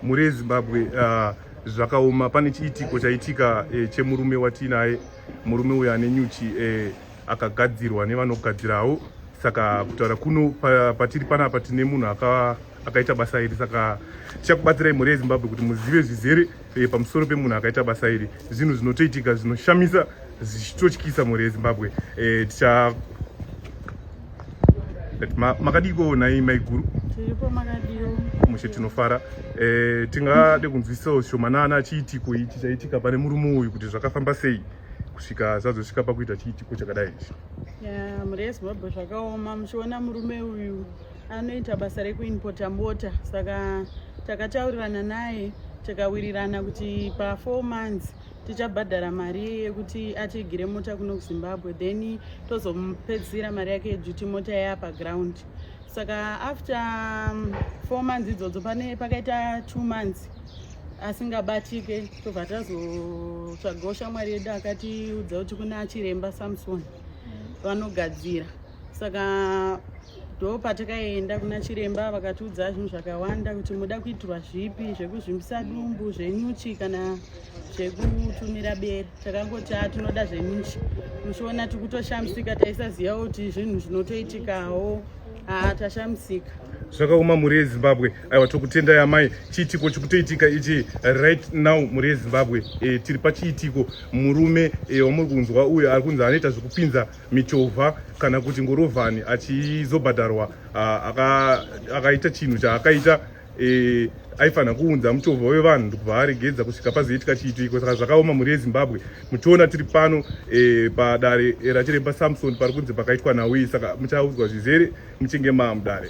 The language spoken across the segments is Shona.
mhuri yezimbabwe uh, zvakaoma pane chiitiko chaitika eh, chemurume watiinaye murume uyo ane nyuchi eh, akagadzirwa nevanogadzirawo saka kutaura kuno patiri panapa tine munhu akaita basa iri saka tichakubatsirai mhuri yezimbabwe kuti muzive zvizere eh, pamusoro pemunhu akaita basa iri zvinhu zvinotoitika zvinoshamisa zvichitotyisa mhuri yezimbabwe eh, ticha makadiko nhai maiguru tiripo makadiko mushe tinofara eh, tingade kunzwisisawo shomanana chiitiko ichi chaitika pane murume uyu kuti zvakafamba sei kusvika zvazosvika pakuita chiitiko chakadai ichi mhuri yezimbabwe zvakaoma muchiona murume uyu anoita basa rekuinpota mota saka takataurirana naye tikawirirana kuti pafour months tichabhadhara mari yekuti atigire mota kuno kuzimbabwe then tozomupedzisira mari yake yeduty mota yaya paground saka after um, four months idzodzo pane pakaita two months asingabatike tobva tazotsvagawo shamwari yedu akatiudza kuti kuna chiremba samson vanogadzira saka ndo patakaenda kuna chiremba vakatiudza zvinhu zvakawanda kuti muda kuitirwa zvipi zvekuzvimbisa dumbu zvenyuchi kana zvekutumira bere takangoti a tinoda zveminchi muchiona tikutoshamisika taisaziva kuti zvinhu zvinotoitikawo haa tashamisika zvakaoma mhuri yezimbabwe aiwa tokutendai amai chiitiko chikutoitika ichi right now mhuri yezimbabwe e, tiri pachiitiko murume e, wamuri kunzwa uyo ari kunzi anoita zvekupinza michovha kana kuti ngorovhani achizobhadharwa akaita chinhu chaakaita eh, aifanira kuunza muchovha wevanhu ndikuvaaregedza kusvika pazoitika chiitiko saka zvakaoma mhuri yezimbabwe muchiona tiri pano e, padare eh, rachiremba samson pari kunzi pakaitwa nawi saka muchaudzwa zvizere muchinge maamudare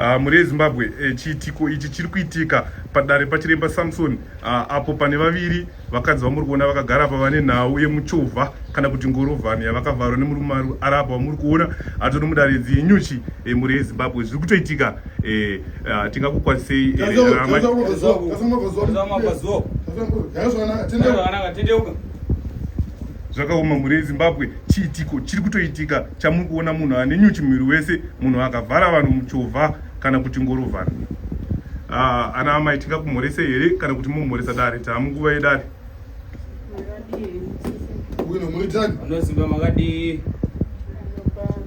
Ah, mhuri yezimbabwe eh, chiitiko ichi chiri kuitika padare pachiremba samson ah, apo pane vaviri vakadzi vamuri kuona vakagara apa vane nhau yemuchovha kana kuti ngorovhani yavakavharwa nemurume ari apa vamuri kuona ato nomudare dzinyuchi eh, mhuri yezimbabwe zviri kutoitika ah, tingakukwanisei rama zvakaoma mhuri yezimbabwe chiitiko chiri kutoitika chamuri kuona munhu ane nyuchi muviri wese munhu akavhara vanhu muchovha kana kuti ngorovhana ah, ana amai tingakumhorese here kana kuti momhoresa dare taamunguva yedare unomuitani anozimba makadii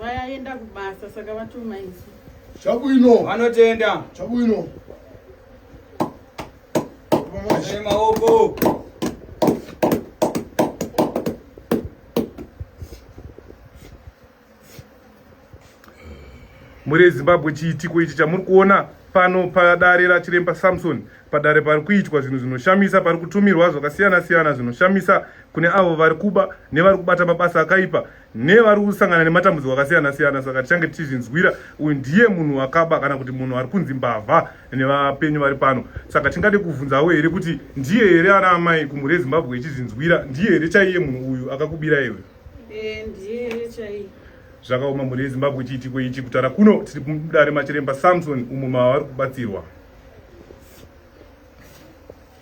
Vayaenda kubasa saka vatuma isu. Chabwino. Vanotenda. Chabwino. Hey, maoko. Muri Zimbabwe chiitiko ichi chamuri kuona pano padare rachiremba samson padare pari kuitwa zvinhu zvinoshamisa pari kutumirwa zvakasiyana siyana zvinoshamisa kune avo vari kuba nevari kubata mabasa akaipa nevari kusangana nematambudziko akasiyana siyana saka tichange tichizvinzwira uyu ndiye munhu wakaba kana kuti munhu ari kunzi mbavha nevapenyu vari pano saka tingade kuvhunzawo here kuti ndiye here ana amai kumhuri yezimbabwe ichizvinzwira ndiye here chaiye munhu uyu akakubira iwe eh, zvakaoma mhuri yezimbabwe chiitiko ichi kutara kuno tiri kudare machiremba samson umo mavari kubatsirwa